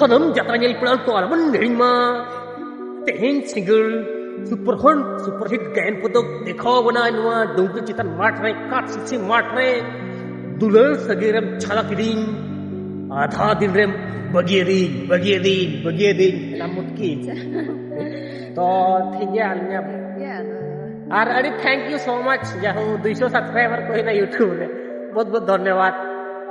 ᱥᱟᱱᱟᱢ ᱡᱟᱛᱨᱟ ᱧᱮᱞ ᱯᱮᱲᱟ ᱠᱚ ᱟᱞᱚᱵᱚᱱ ᱦᱤᱲᱤᱧ ᱢᱟ ᱛᱮᱦᱮᱧ ᱥᱤᱸᱜᱟᱹᱲ ᱥᱩᱯᱟᱨ ᱦᱚᱱ ᱥᱩᱯᱟᱨ ᱦᱤᱴ ᱜᱟᱭᱟᱱ ᱠᱚᱫᱚ ᱫᱮᱠᱷᱟᱣ ᱵᱚᱱᱟ ᱱᱚᱣᱟ ᱰᱩᱝᱜᱤ ᱪᱮᱛᱟᱱ ᱢᱟᱴᱷ ᱨᱮ ᱠᱟᱴ ᱥᱤᱥᱤ ᱢᱟᱴᱷ ᱨᱮ ᱫᱩᱞᱟᱹᱲ ᱥᱟᱹᱜᱟᱹᱭ ᱨᱮᱢ ᱪᱷᱟᱞᱟ ᱠᱤᱫᱤᱧ ᱟᱫᱷᱟ ᱫᱤᱱ ᱨᱮᱢ ᱵᱟᱹᱜᱤᱭᱟᱫᱤᱧ ᱵᱟᱹᱜᱤᱭᱟᱫᱤᱧ ᱵᱟᱹᱜᱤᱭᱟᱫᱤᱧ ᱚᱱᱟ ᱢᱩᱴᱠᱤᱱ ᱛᱚ ᱴᱷᱤᱠ ᱜᱮᱭᱟ ᱟᱹᱞᱤᱧᱟᱜ ᱟᱨ ᱟᱹᱰᱤ ᱛᱷᱮᱝᱠ ᱭᱩ ᱥᱳ ᱢᱟᱪ ᱡᱟᱦᱳ ᱫᱩᱭᱥᱚ ᱥᱟᱵᱥᱠᱨᱟᱭᱵᱟᱨ ᱠᱚ ᱦᱩᱭᱱᱟ ᱤᱭᱩᱴᱩᱵᱽ ᱨᱮ ᱵᱚᱦᱩᱛ ᱵᱚᱦᱩᱛ ᱫᱷᱚᱱᱭᱚᱵᱟᱫᱽ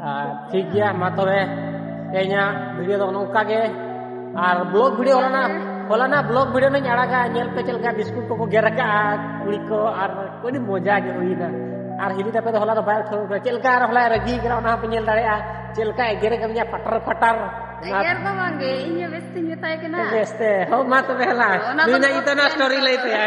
ᱟᱨ ᱴᱷᱤᱠ ᱜᱮᱭᱟ ᱢᱟ ᱛᱚᱵᱮ ᱛᱮᱦᱮᱧᱟᱜ ᱵᱷᱤᱰᱤᱭᱳ ᱫᱚ ᱱᱚᱝᱠᱟ ᱜᱮ ᱟᱨ ᱵᱞᱚᱜ ᱵᱷᱤᱰᱤᱭᱳ ᱦᱚᱞᱟᱱᱟᱜ ᱦᱚᱞᱟᱱᱟᱜ ᱵᱞᱚᱜ ᱵᱷᱤᱰᱤᱭᱳ ᱱᱟᱹᱧ ᱟᱲᱟᱜᱟ ᱧᱮᱞ ᱯᱮ ᱪᱮᱫ ᱞᱮᱠᱟ ᱵᱤᱥᱠᱩᱴ ᱠᱚᱠᱚ ᱜᱮᱨ ᱟᱠᱟᱜᱼᱟ ᱠᱩᱲᱤ ᱠᱚ ᱟᱨ ᱟᱹᱰᱤ ᱢᱚᱡᱟ ᱜᱮ ᱦᱩᱭᱱᱟ ᱟᱨ ᱦᱤᱞᱤ ᱛᱟᱯᱮ ᱫᱚ ᱦᱚᱞᱟ ᱫᱚ ᱵᱟᱭ ᱩᱴᱷᱟᱹᱣ ᱠᱟᱱᱟ ᱪᱮᱫ ᱞᱮᱠᱟ ᱟᱨ ᱦᱚᱞᱟᱭ ᱨᱟᱹᱜᱤ ᱠᱟᱱᱟ ᱚᱱᱟ ᱦᱚᱸᱯᱮ ᱧᱮᱞ ᱫᱟᱲᱮᱭᱟᱜᱼᱟ ᱪᱮᱫ ᱞᱮᱠᱟ ᱮᱜᱮᱨ ᱠᱟᱹᱫᱤᱧᱟ ᱯᱟᱴᱟᱨ ᱯᱟᱴᱟᱨ ᱮᱜᱮᱨ ᱫᱚ ᱵᱟᱝᱜᱮ ᱤᱧ ᱦᱚᱸ ᱵᱮᱥ ᱛᱤᱧ ᱢᱮᱛᱟᱭ ᱠᱟᱱᱟ ᱵᱮᱥᱛᱮ ᱦᱚᱸ ᱢᱟ ᱛᱚᱵᱮ ᱦᱮᱞᱟ ᱚᱱᱟ ᱫᱚ ᱱᱩᱭ ᱱᱟᱜ ᱤᱛᱟᱹ ᱱᱚᱣᱟ ᱥᱴᱳᱨᱤ ᱞᱟᱹᱭ ᱛᱟᱭᱟ